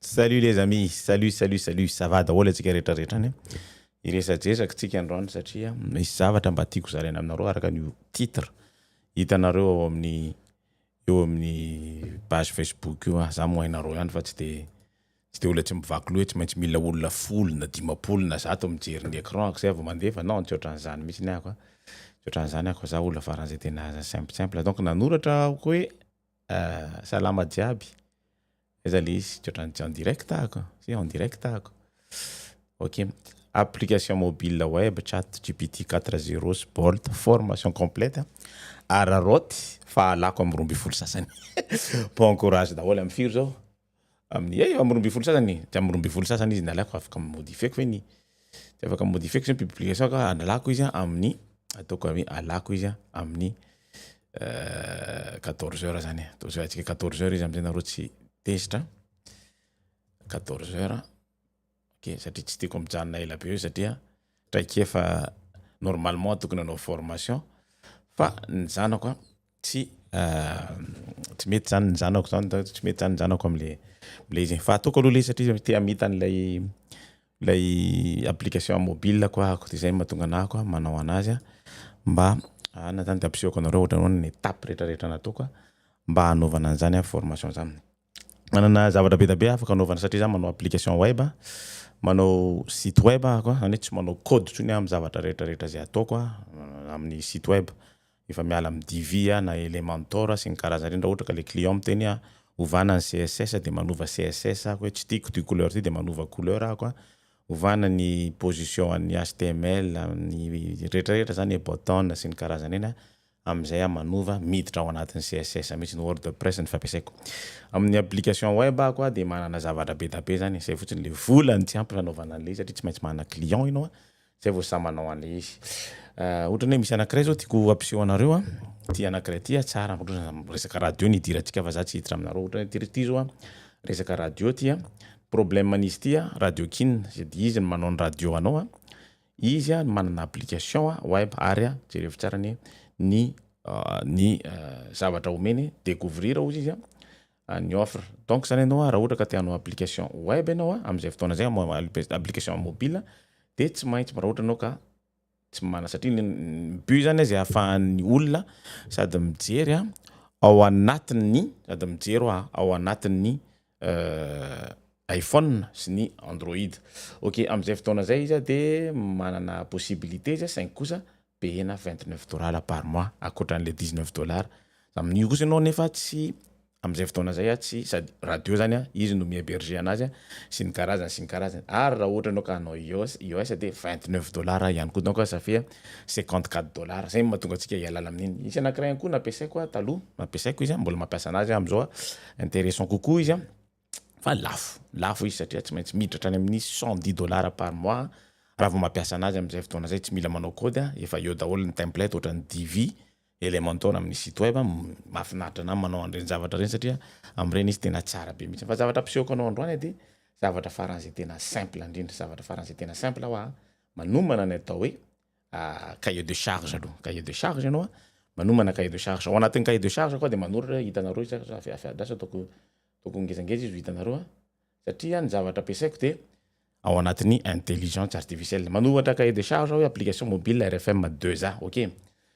Salut les amis, salut salut salut, ça va daholo antsika rehetra rehetra any a! Hiresadresaka tsika androany satria misy zavatra mba tiako zaraina aminareo araka ny titre hitanareo ao amin'ny eo amin'ny page Facebook io a, za moa hainareo ihany fa tsy de tsy de olona tsy mivaky loha hoe tsy maintsy mila olona folo na dimampolo na zato mijery ny écran ako zay vao mandefa, non tsy ohatran'izany mihitsy ny ahy ako a, tsy ohatran'izany aho ko, za olona faran'izay tena simple simple, donc nanoratra aho ko hoe. Salama jiaby, aiza le izy tsy otrany tsy en direct ako sa en direct ako? ok application mobile web chat gpt quatre zero sy bolt formation complète araraoty fahalako am roa ambin'ny folo sasany bon courage daholo am firy zao? amin'ny eh eo amin'ny roa ambin'ny folo sasany e, dia amin'ny roa ambin'ny folo sasany izy nalaiko fa afaka mi-modifier-ko ve ny dia afaka mi-modifier-ko zany publication-ko a, analako izy a amin'ny ataoko hoe alako izy a amin'ny quatorze heures zany e, ataontsika hoe quatorze heures izy am'zay nareo tsy tezitra, quatorze heures. Ok satria tsy tiako mijanona ela be eo satria traikefa normalement tokony hanao formation fa ny zanako a tsy tsy mety zany ny zanako zany da tsy mety zany ny zanako amle le izy fa ataoko aloha le satria te hamita an'ilay ilay application mobile ko ahako de zay mahatonga anah ko manao anazy mba anona zany de ampisehoako anareo ohatran'ny hoe ny étape retraretra nataoko mba hanaovana an'zany formation zany. Manana zavatra be dia be afaka anaovana satria za manao application web a, manao site web aho ka, zany hoe tsy manao code intsony aho amin'ny zavatra rehetra rehetra izay ataoko a, amin'ny site web, efa miala amin'ny Divi aho na Elementor sy ny karazany ireny, raha ohatra ka le client miteny hoe ovana ny CSS dia manova CSS aho, hoe tsy tiako ity couleur ity dia manova couleur aho ka, ovana ny position an'ny HTML, ny rehetra rehetra zany, button sy ny karazany ireny a, amin'izay aho manova miditra ao anatin'ny CSS mihitsy ny wordpress no fampiasaiko amin'ny application web ako aho dia manana zavatra be da be zany izay fotsiny le vola no tsy ampy hanaovana an'le izy satria tsy maintsy manana client ianao a zay vao sahy manao an'le izy ohatrany hoe misy anakiray zao tiako hampiseho anareo a ty anakiray ty a tsara ohatrany hoe resaka radio no idirantsika fa za tsy hiditra aminareo ohatrany hoe ty ry ty zao a resaka radio ty a problème an'izy ty a radio kin dia izy no manao ny radio anao a Izy no manana application web ary jerevo tsara anie ny ny zavatra omeny decouvrir ozy izy ny offre donc zany ianao raha ohatra ka te hanao application web ianao amin'izay fotoana izay application mobile dia tsy maintsy raha ohatra ianao ka tsy manana satria ny but zany izy ahafahan'ny olona sady mijery ao anatin'ny sady mijery ao anatin'ny iPhone sy ny Android. Ok, amin'izay fotoana izay izy dia manana possibilité izy saingy kosa payena vingt neuf dollars par mois ankoatran'ilay dix neuf dollars, amin'io kosa ianao nefa tsy amin'izay fotoana izay tsy sady radio zany an, izy no mi-heberger anazy an, sy ny karazany sy ny karazany ary raha ohatra ianao ka hanao IOS, IOS dia vingt neuf dollars ihany koa donc ça fait cinquante quatre dollars, izay no mahatonga antsika hialala amin'iny. Misy anankiray ihany koa nampiasaiko taloha, nampiasaiko izy an, mbola mampiasa anazy aho amin'izao an. intéressant kokoa izy a, fa lafo, lafo izy satria tsy maintsy miditra hatrany amin'ny cent dix dollars par mois raha vao mampiasa anazy amin'izay fotoana zay, tsy mila manao kôdy a, efa eo daholo ny template ohatran'ny Divi, Elementor amin'ny site web, mahafinaritra anah manao an'ireny zavatra ireny satria amin'ireny izy tena tsara be mihitsy, fa zavatra ampisehoako anao androany edy zavatra faran'izay tena simple indrindra, zavatra faran'izay tena simple hoa manomana ny atao hoe cahier de charge aloha cahier de charge ianao a manomana cahier de charge ao anatin'ny cahier de charge koa de manoratra hoe hitanareo izy a avy avy adraso ataoko ataoko ngezangeza izy ho hitanareo a satria ny zavatra ampiasaiko de ao anatin'ny intelligence artificielle manoratra cahier de charge aho hoe application mobile rfm deux a ok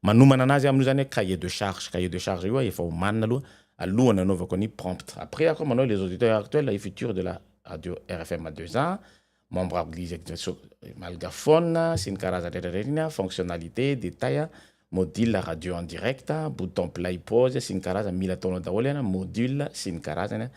Manomana anazy amin'io zany hoe cahier de charge, cahier de charge io aho efa omanina aloha alohan'ny anaovako an'io prompt. Après aho koa manao les auditeurs actuels et futurs de la radio rfm deux ans, membre malgaphone sy ny karazany rehetra rehetra iny an, fonctionnalité, détail an, module radio en direct, bouton play, pause sy ny karazany, mila ataonao daholo an, module sy ny karazany an,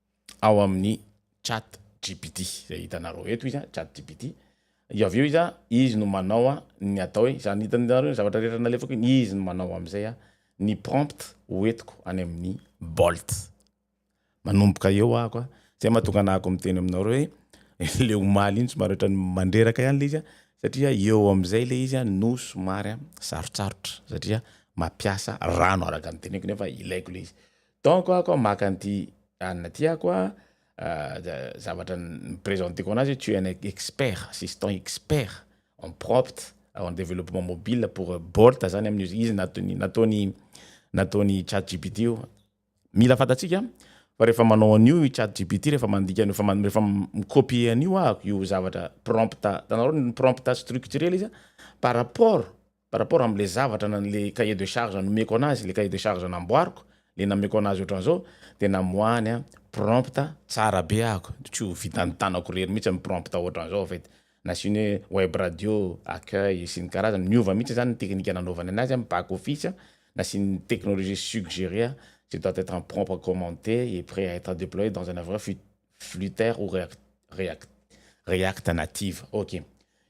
ao amin'ny chat gpt zay hitanareo eto izy chat gpt io avy eo izy izy no manao ny atao hoe zany hitanareo ny zavatra rehetra nalefako iny izy no manao am'izay a ny prompt ho entiko any amin'ny bolt manomboka eo ahako a zay mahatonga anah ko miteny aminareo hoe le omaly iny somary ohatrany mandreraka ihany le izy a satria eo am'izay le izy no somary a sarotsarotra satria mampiasa rano araka ny teneniko nefa ilaiko le izy Donc ako aho maka an'ity Anna ty ako a, zavatra ni-presenter-ko anazy hoe tu es un expert, assistant expert en prompt, en développement mobile pour Bolt zany amin'io izy, izy nataony nataony nataony chat GPT io. Mila fantatsika fa rehefa manao an'io i chat GPT rehefa mandika an'io fa rehefa mi-copier an'io ako io zavatra prompt atanareo ny prompt structuré le izy a par rapport par rapport amle zavatra na le cahier de charge nomeko anazy, le cahier de charge namboariko, le nameko anazy otranzao de namoahany an prompte tsara be ahako de tsy ho vitan'ny tanako irery mihitsy am prompte otranzao fa edy nasiany hoe web radio, accueil sy ny karazany, miova mihitsy zany ny teknika nanaovany anazy am back office an, nasiany technologie suggerer an, ce doit etre en prompt commenté et près à etre deployé dans un avr fut flutter ou react react react native ok.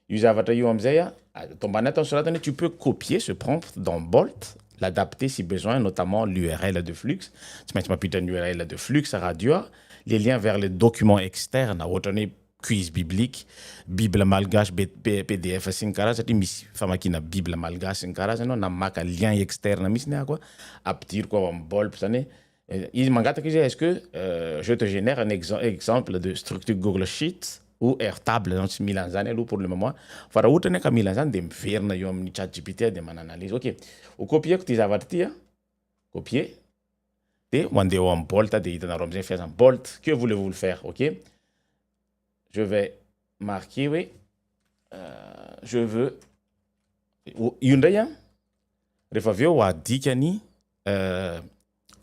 Io zavatra io amzay a, ato ambany ato nosoratany hoe tu peux copier ce prompt dans Bolt, l'adapter si besoin, notamment l'URL de flux, tsy maintsy mampiditra ny URL de flux radio a, les liens vers les documents externes ohatrany hoe quiz biblique, bible malgache be pdf sy ny karazany satria misy famakiana bible malgache sy ny karazany aho na maka lien externe mihitsy ny ahako a, ampidiriko ao am Bolt zany hoe Izy mangataka izy hoe est-ce que je te genère un exemple de structure google sheet ou airtable ianao tsy mila an'izany aloha pour le moment fa raha ohatra anie ka mila an'izany dia miverina eo amin'ny chat gpt aho dia mananalyse ok ho copier-ko ity zavatra ity an copier dia mandeha ao amin'ny bolt dia hitanareo amin'izay ny fiasany bolt que voulez vous le faire ok je vais marquer hoe je veux io indray an Rehefa avy eo adika ny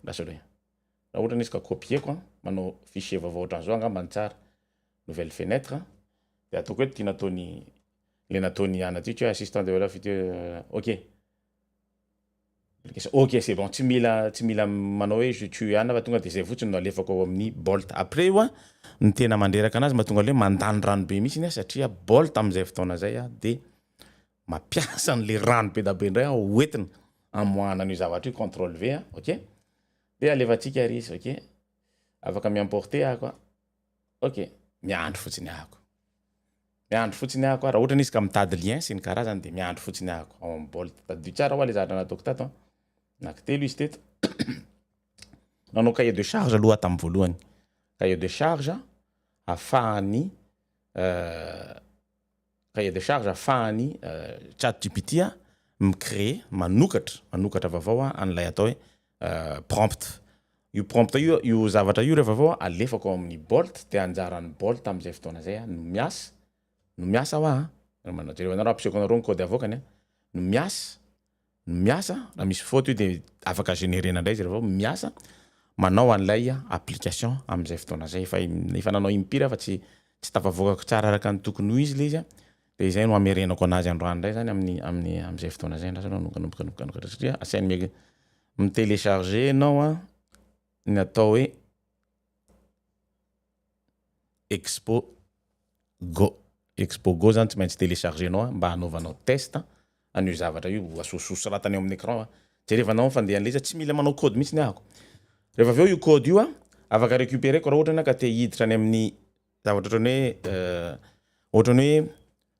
lasa hoe raha ohatra izy ka copier-ko manao fichier vaovao ohatran'izao angamba ny tsara nouvelle fenêtre de ataoko eto ty nataony le nataony anadika hoe assistant de valeur future ok application ok c'est bon tsy mila tsy mila manao hoe je tue ana fa tonga de zay fotsiny no alefako ao amin'ny bolt après io an ny tena mandreraka anazy mahatonga le mandany rano be mihitsy satria bolt amin'izay fotoana zay de mampiasa an'le rano bedabe ndray aho hoentina amoahana an'io zavatra io control V a ok de alefatsika ary izy ok afaka mi-emporter ako a ok miandry fotsiny ako miandry fotsiny ako a raha ohatra izy ka mitady lien sy ny karazany de miandry fotsiny ako ao amin'ny bolt tadidio tsara hoa le zavatra nataoko tato a anaky telo izy teto nanao cahier de charge aloha aho tamin'ny voalohany cahier de charge afahan'ny Cahier de charge afahan'ny chat gpt mi créer, manokatra, manokatra vaovao an'ilay atao hoe prompt. Io prompt io, io zavatra io rehefa avy eo alefako ao amin'ny bolt dia anjaran'ny bolt amin'izay fotoana izay no miasa, no miasa hoa, jereo anareo ampisehoako anareo ny code avoakany, no miasa. no miasa, raha misy faute io dia afaka generena indray izy raha vao miasa, manao an'ilay application amin'izay fotoana izay, efa efa nanao impire fa tsy tsy tafavoakako tsara araka ny tokony ho izy ilay izy a, dia izay no hamerenako an'azy androany indray izany amin'ny amin'ny amin'izay fotoana izay andrasana no mikanomboka satria asainy mi- mi-telecharger ianao a, ny atao hoe. Expo go. Expo go zany tsy maintsy telecharger nao mba hanaovanao test an'io zavatra io ho asososo soratana eo amin'ny écran a. Jerevanao ny fandehan'ilay izy a, tsy mila manao code mihitsy ny ahako. Rehefa avy eo io code io a, afaka recuperer-ko raha ohatra ianao ka te hiditra any amin'ny zavatra ohatran'ny hoe ohatran'ny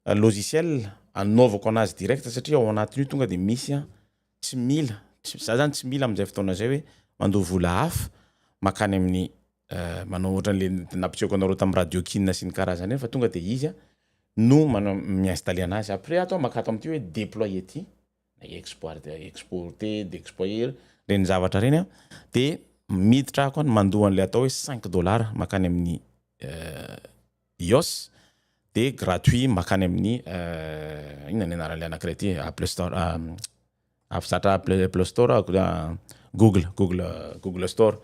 hoe logiciel anaovako anazy direct satria ao anatin'io tonga dia misy a, tsy mila, za zany tsy mila amin'izay fotoana izay hoe mandoa vola hafa makany amin'ny. eh, manao ohatran'le nampisehoako anareo tamin'ny radio kinina sy ny karazany reny fa tonga de izy a no mana- mi-installer anazy après ato aho maka ato amin'ity hoe déploie ity na exporte exporte d'exploiter reny zavatra reny a de miditra ako any mandoa an'le atao hoe cinq dollars makany amin'ny eh, ios de gratuit makany amin'ny eh, inona ny anaran'le anankiray ity apple store ah, Avy zatra play play store aho a google google google store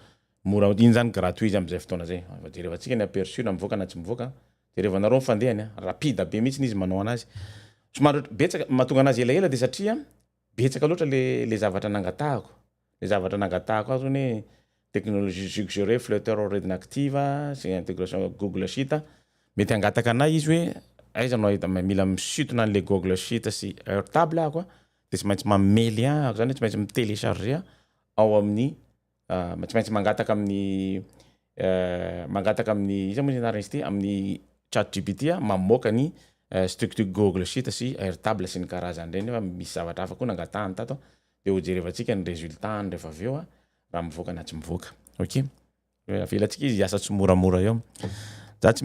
mora iny zany gratuit izy amzay fotoana zay fa jerevantsika ny aperçu na mivoaka na tsy mivoaka jerevanareo ny fandehany a rapide be mihitsy izy manao anazy somary betsaka mahatonga anazy elaela de satria betsaka loatra le le zavatra nangatahako Ilay zavatra nangatahako azy hono hoe technologie suggérée, Flutter already active a, izay intégration Google Sheet a. Mety hangataka anay izy hoe aiza no ahita- mila misintona an'ilay Google Sheet sy Airtable aho an, dia tsy maintsy mamely an, araka izany hoe tsy maintsy mi-télécharger an, ao amin'ny ah, tsy maintsy mangataka amin'ny eh, mangataka amin'ny, iza moa izy anarany izy ity, amin'ny chat gpt an, mamoaka ny structure Google Sheet sy Airtable sy ny karazany ireny, nefa misy zavatra hafa koa nangatahany tato an, dia ho jerevantsika ny resultat-ny rehefa avy eo raha mivoaka na tsy mivoaka ok hoe avelantsika izy hiasa tsimoramora eo za tsy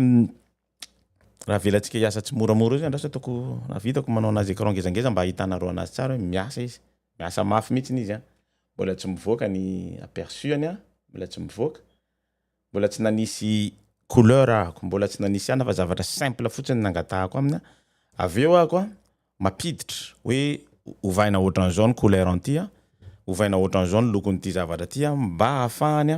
raha avelantsika hiasa tsimoramora eo zany raha ataoko raha vitako manao anazy écran ngezangeza mba ahitanareo anazy tsara hoe miasa izy miasa mafy mihitsy izy a mbola tsy mivoaka ny aperçu-any a mbola tsy mivoaka Mbola tsy nanisy couleur ahako, mbola tsy nanisy anona fa zavatra simple fotsiny no nangatahako aminy, avy eo ahako mampiditra hoe ovaina ohatran'izao ny couleur an'ity, ovaina ohatran'izao ny lokon'ity zavatra ity mba hahafahany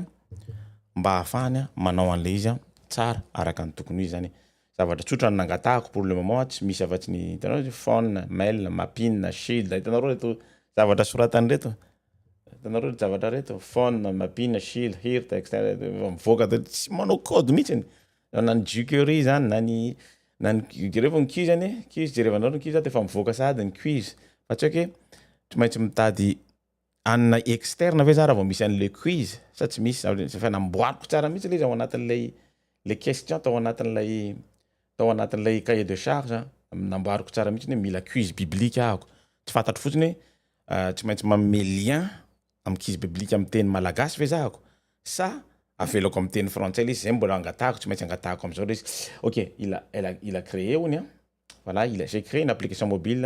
mba hahafahany manao an'ilay izy tsara araka ny tokony ho izy izany e. Zavatra tsotra no nangatahako pour le moment tsy misy afa-tsy ny hitanao hoe phone, mail, mapping, shield, hitanareo ireto zavatra soratany ireto. Hitanareo ry javatra reto, phone, mapina, shil, hir, text, mivoaka de tsy manao code mihitsy ny na ny jukery zany na ny na ny jereo ny quiz anie quiz jerevanareo ny quiz de efa mivoaka sahady ny quiz fa tsy hoe ke tsy maintsy mitady hanina externe ve za raha vao misy an'le quiz sa tsy misy zany efa namboariko tsara mihitsy le izy ao anatin'ilay le question tao anatin'ilay tao anatin'ilay cahier de charge namboariko tsara mihitsy ny hoe mila quiz biblique ahako tsy fantatro fotsiny hoe Tsy maintsy manome lien amin'ny quiz biblique amin'ny teny malagasy ve zahako sa avelako amin'ny teny frantsay ilay izy? Izay no mbola angatahako, tsy maintsy angatahako amin'izao ilay izy. Ok, il a, elle a, il a créé hono an, voilà, il a, j'ai créé une application mobile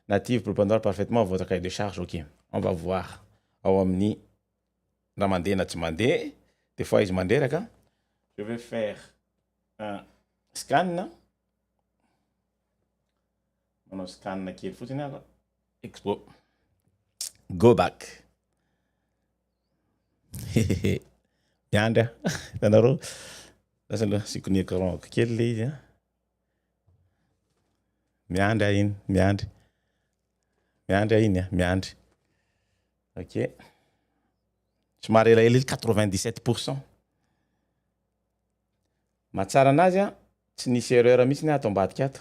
native pour prendre parfaitement votre cahier de charge, ok, on va voir ao amin'ny na mandeha na tsy mandeha, des fois izy mandreraka, je vais faire un scan, Manao scan kely fotsiny aho. Expo. Go back. Hehehe. Miandry aho. Hitanareo? Lasa aloha asiko ny écran ko kely le izy a. Miandry aho iny, miandry. Miandry aho iny a, miandry. Ok. Somary elaela ely 97 pour cent. Mahatsara anazy a, tsy nisy erreur mihitsy aho ato ambadika ato.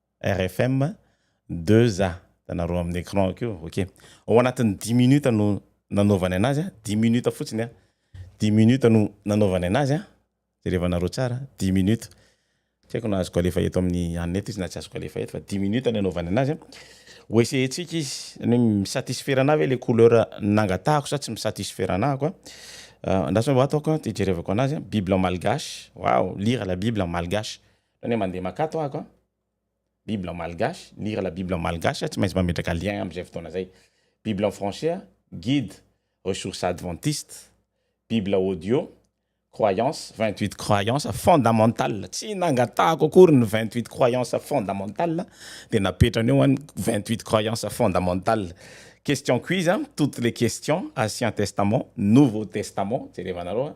RFM deux a hitanareo amin'ny écran akeo ok ao anatin'ny dix minutes no nanaovany anazy a dix minutes fotsiny a dix minutes no nanaovany anazy a jereva anareo tsara dix minutes tsy haiko na azoko alefa eto amin'ny hanina eto izy na tsy azoko alefa eto fa dix minutes no anaovany anazy a ho essayer-tsika izy ny hoe mi-satisfaire anahy ve le couleur nangatahako sa tsy mi-satisfaire anahako a andraso ato aho ka hijerevako anazy a bible malgache waouh lire la bible en malgache Zany hoe mandeha maka ato ahako a, bible en malgache, lire la bible en malgache, tsy maintsy mametraka lien amin'izay fotoana izay. Bible en français, guide ressources adventistes, bible audio, croyances, vingt huit croyances fondamentales, tsy nangatahako akory ny vingt huit croyances fondamentales dia napetrany eo an, vingt huit croyances fondamentales. Question quiz, toutes les questions, ancien testament, nouveau testament, jerevanareo a.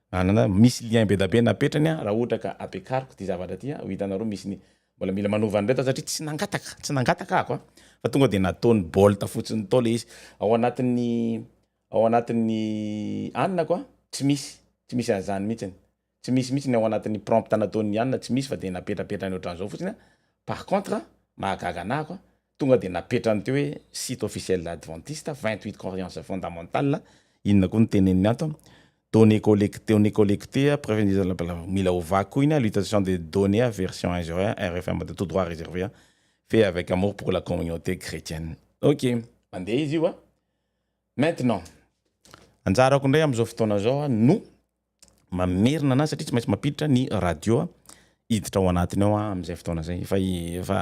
Nanana, misy lien be da be napetrany aho raha ohatra ka ampiakariko ity zavatra ity an, ho hitanareo misy ny mbola mila manova an'ireto aho satria tsy nangataka, tsy nangataka ahako an, fa tonga dia nataony bolt fotsiny tao le izy, ao anatin'ny ao anatin'ny anako an, tsy misy, tsy misy an'izany mihitsiny, tsy misy mihitsy ny ao anatin'ny prompt nataon'i Anna, tsy misy fa dia napetrapetrany ohatran'izao fotsiny an, par contre an, mahagaga anah ako an, Tonga dia napetrany teo hoe site officiel adventiste, vingt huit croyances fondamentales, inona koa no teneniny ato an, données collectées, données collectées, preuve indirecte, blablabla, mila ovaiko koa iny an, l'utilisation des données an, version injuriant an, RFM de tout droit reservé an, fait avec amour pour la communauté chretienne. Ok, mandeha izy io an! Maintenant, anjarako indray amin'izao fotoana izao an, no mamerina anazy satria tsy maintsy mampiditra ny radio hiditra ao anatiny ao amin'izay fotoana zay efa efa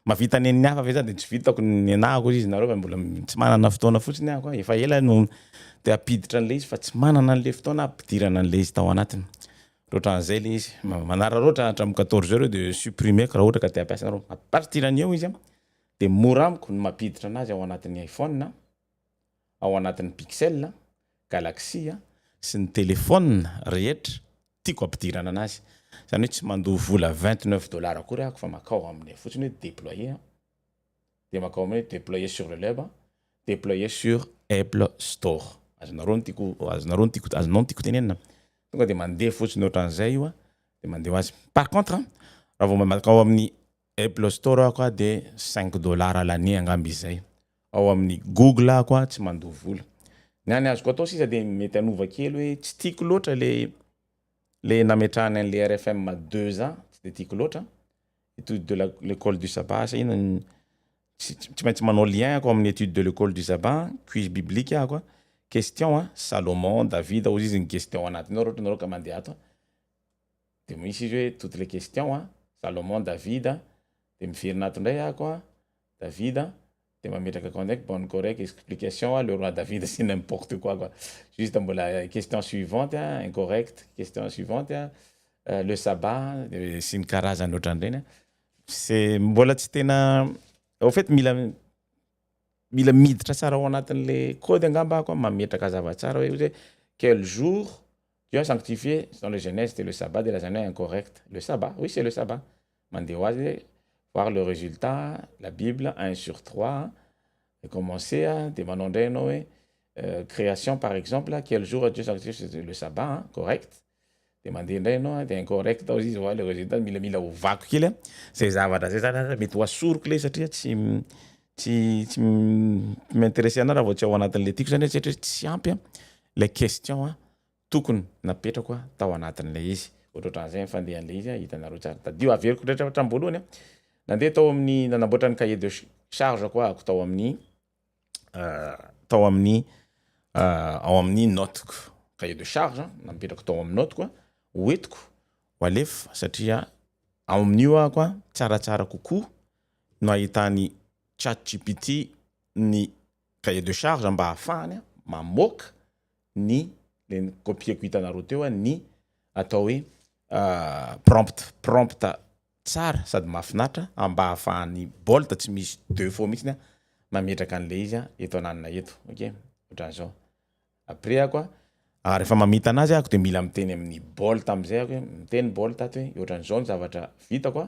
mavita ny an'ny hafa ve zany de tsy vitako ny anahako izy nareo fa mbola tsy manana fotoana fotsiny aho koa efa ela no te hampiditra an'le izy fa tsy manana an'le fotoana hampidirana an'le izy tao anatiny de ohatran'izay le izy manararaotra hatramin'ny quatorze heures eo de supprimer-ko raha ohatra ka te hampiasa nareo à partir an'io izy a de mora amiko ny mampiditra anazy ao anatin'ny iphone a. ao anatin'ny Pixel, Galaxy sy ny telephone rehetra tiako ampidirana anazy. Izany hoe tsy mandoa vola vingt neuf dollars akory aho fa makao amin'ny fotsiny hoe deployer aho dia makao amin'ny hoe deployer sur le web, deployer sur Apple store. Azonareo ny tiako azonareo ny tiako azonao ny tiako tenenina? Tonga dia mandeha fotsiny ohatran'izay io dia mandeha ho azy. Par contre raha vao makao amin'ny Apple store ako a de cinq dollars l'année angamba izay, ao amin'ny google ako a tsy mandoa vola. Ny any azoko atao sisa de mety hanova kely hoe tsy tiako loatra le le nametrahany an'le rfm deux ans tsy de tiako loatra, etude de la l'école du sabbat asa inona ny tsy tsy maintsy manao lien ako amin'ny etude de l'école du sabbat an, quiz biblique ako a, question a, Salomon, Davida, ozizy ny gestion anatiny ao raha ohatra ianareo ka mandeha ato a. Dia misy izy hoe toutes les questions a, Salomon, David a, dia miverina ato indray ako a, David a, dia mametraka akao indraiky bonne correcte explication a, le roi David c'est n'importe quoi quoi, juste mbola question suivante a, incorrecte, question suivante a, le sabbat a, sy ny karazany ohatran'ireny a, c'est mbola tsy tena au fait mila mila miditra tsara ao anatin'ilay code angamba ako a, mametraka hazava tsara hoe quel jour Dieu a sanctifié dans le Genèse c'était le sabbat dia lazaina hoe incorrect le sabbat oui c'est le sabbat mandeha ho azy voir le résultat la bible un sur trois dia commencer a dia manao indray ianao hoe création par exemple quel jour Dieu sanctifié le sabbat a correct dia mandeha indray ianao dia incorrect ao izy voir le résultat mila mila ovako kely a zay zavatra zay zany mety ho asoriko lay satria tsy tsy tsy m'intéresser anao raha vao tsy ao anatin'ilay tiako zany hoe tsy hatrizay tsy ampy an ilay question an tokony napetrako an tao anatin'ilay izy ohatrohatran'izay ny fandehan'ilay izy an hitanareo tsara tadidio averiko rehetra hatramin'ny voalohany an nandeha tao amin'ny nanamboatra ny cahier de charge ko ahako tao amin'ny tao amin'ny ao amin'ny notiko cahier de charge napetrako tao amin'ny notiko an hoentiko ho alefa satria ao amin'io ahako an tsaratsara kokoa no ahitan'i chatgpt ny cahier de charge mba ahafahany mamoaka ny le nokopieko hitanareo teo ny atao hoe prompt prompt tsara sady mahafinaritra mba ahafahan'i bolt tsy misy defaut mihitsy mametraka an'le izy eto ananona eto ok otran'zao après ako a refa mamita anazy ako de mila miteny amin'ny bolt amzay ako hoe miteny bolt ato hoe otran'zao ny zavatra vitako a.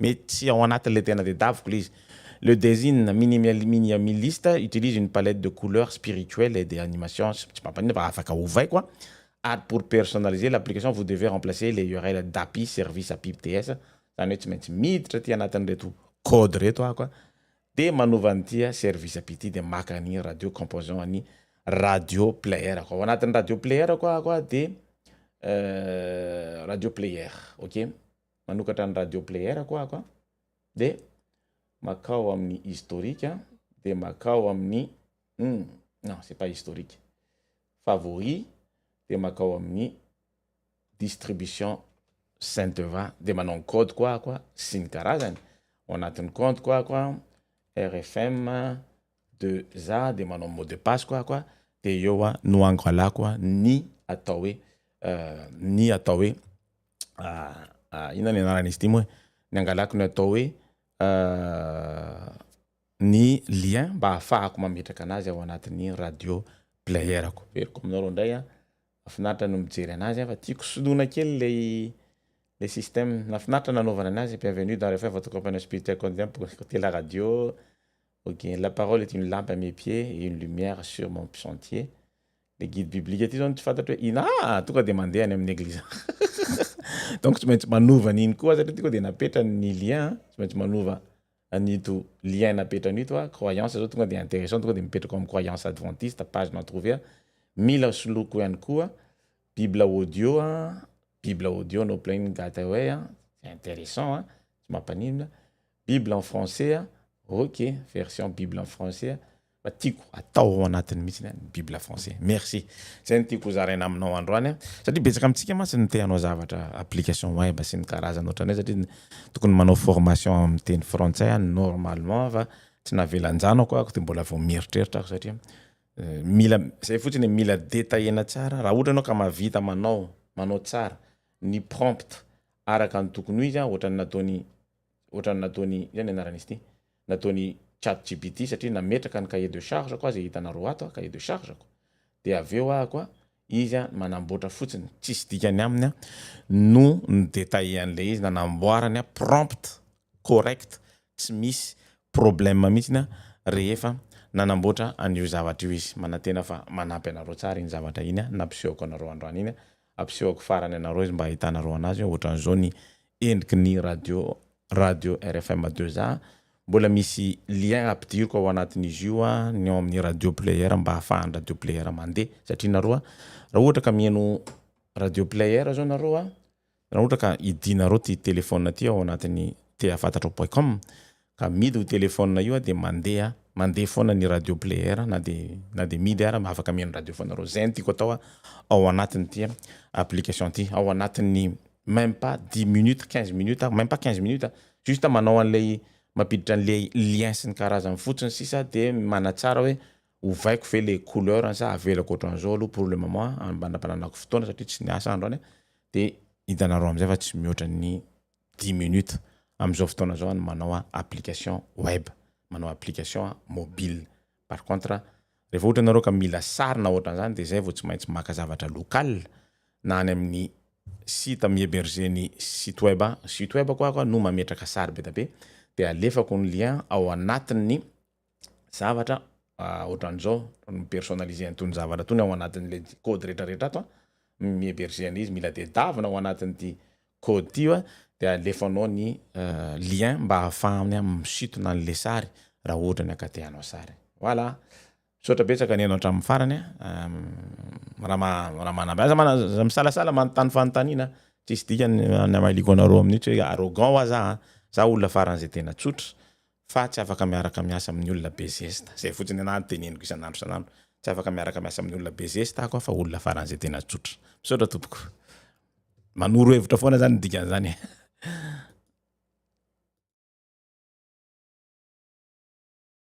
Mety tsy ao anatin' ilay tena tedaviko ilay izy. Le design minimaliminimiliste utilise une palette de couleurs spirituelle et des animations tsy tsy mampaninona fa afaka ovaiko a. Ary pour personnaliser l'application vous devez remplacer le url d'api service api bts izany hoe tsy maintsy miditra aty anatin'ireto code ireto aho ka dia manova an'ity service api ity dia maka an'iny radio composant an'i radio player ko ao anatin'ny radio player ko aho ka dia radio player ok. manokatra ny radio player ko ako a, de makao amin'ny historique a, de makao amin'ny hum non c'est pas historique, favori de makao amin'ny distribution Saint Eva de manao ny code ko ako a sy ny karazany, ao anatin'ny compte ko ako a, RFM, de za de manao mot de passe ko ako de eo no angalako ny atao hoe ny atao hoe inona ny anaran'izy ity moa e? ny angalako ny atao hoe ny lien mba hahafahako mametraka anazy ao anatin'ny radio player ko, averiko aminao reo ndray a, mafinaritra ny mijery anazy a fa tiako soloina kely le le système, nafinaritra ny nanaovana anazy, bienvenue dans le fin votre compagnon spirituel cote d'Ivoire, côté la radio, Ok, la parole est une lampe à mes pieds et une lumière sur mon sentier, le guide biblique ty zao no tsy fantatro hoe ina ah! tonga de mandeha any amin'ny eglizy agny donc tsy maintsy manova an'iny koa satria ty koa de napetrany ny lien an, tsy maintsy manova an'ito lien napetrany ito an, croyance zao tonga de interessant tonga de mipetraka ao amin'ny croyance adventiste page non trouvée, mila soloiko ihany koa bible audio an, bible audio no plain gateway an, c'est interessant an, tsy mampaninona, Bible en français a, ok, version Bible en français a, fa tiako atao ao anatiny mihitsy ny an'ny Bible français. Merci. Zay no tiako hozaraina aminao androany a, satria betsaka amintsika mantsy no te hanao zavatra application web sy ny karazany ohatran'izay satria tokony manao formation amin'ny teny frantsay aho normalement fa tsy navelan-janako aho dia mbola vao mieritreritra aho satria mila zay fotsiny mila detaillena tsara raha ohatra ianao ka mahavita manao manao tsara ny prompt araka ny tokony ho izy a, ohatran'ny nataon'i Ohatran'ny nataony, izay ny anaran'izy ity, nataony chat gpt satria nametraka ny cahier de charge ko aho izay hitanareo ato a, cahier de charge ko, dia avy eo aho koa izy a manamboatra fotsiny, tsisy dikany aminy a, no ni-detailler an'ilay izy, nanamboarany a prompt correct, tsy misy problème mihitsiny a, rehefa nanamboatra an'io zavatra io izy. Manantena fa manampy anareo tsara iny zavatra iny a nampisehoko anareo androany iny a. Ampisehoko farany anareo izy mba ahitanareo anazy hoe ohatran'izao ny endriky ny radio radio rfm deux A. Mbola misy lien ampidiriko ao anatin'izy io ny ao amin'ny radio player mba ahafahan'ny radio player mandeha satria nareo raha ohatra ka mihaino radio player zao nareo raha ohatra ka hidianareo ity telephone ity ao anatin'ny tehafantatrao point com ka midy io telephone io dia mandeha mandeha foana ny radio player na dia na dia midy ary afaka mihaino radio foana reo zay no tiako atao ao anatin'ity application ity ao anatin'ny meme pas dix minutes quinze minutes ary meme pas quinze minutes a juste manao an'ilay mampiditra an'ilay lien sy ny karazany fotsiny sisa dia manatsara hoe ovaiko ve le couleur-ny sa avelako ohatran'izao aloha pour le moment a mba anampananako fotoana satria tsy niasa androany a dia hitanareo am'zay fa tsy mihoatra ny dix minutes amin'izao fotoana izao ny manao application web, manao application mobile. Par contre, rehefa ohatra ianareo ka mila sary na ohatran'izany dia izay vao tsy maintsy maka zavatra local na any amin'ny site mi-heberger ny site web, site web-ko aho no mametraka sary be dia be dia alefako ny lien ao anatin'ny. zavatra ohatran'izao mi-personnaliser an'itony zavatra tony ao anatin'ilay code rehetrarehetra ato mi-héberger an'izy mila tedavina ao anatin'ity code ty a dia alefanao ny lien mba hahafahany misintona an'ilay sary raha ohatra ny aka te hanao sary voilà misaotra betsaka ny anao hatramin'ny farany a raha manambara aza mana za misalasala manontany fanontaniana tsisy dikany ny amahiliako anareo amin'io tsy hoe arrogant wa za za olona faran'izay tena tsotra fa tsy afaka miaraka miasa amin'ny olona be zesta. Izay fotsiny anahy no teneniko isan'andro isan'andro. Tsy afaka miaraka miasa amin'ny olona be zesta aho fa olona faran'izay tena tsotra. Misaotra tompoko. Manoro hevitra foana izany ny dikan'izany e.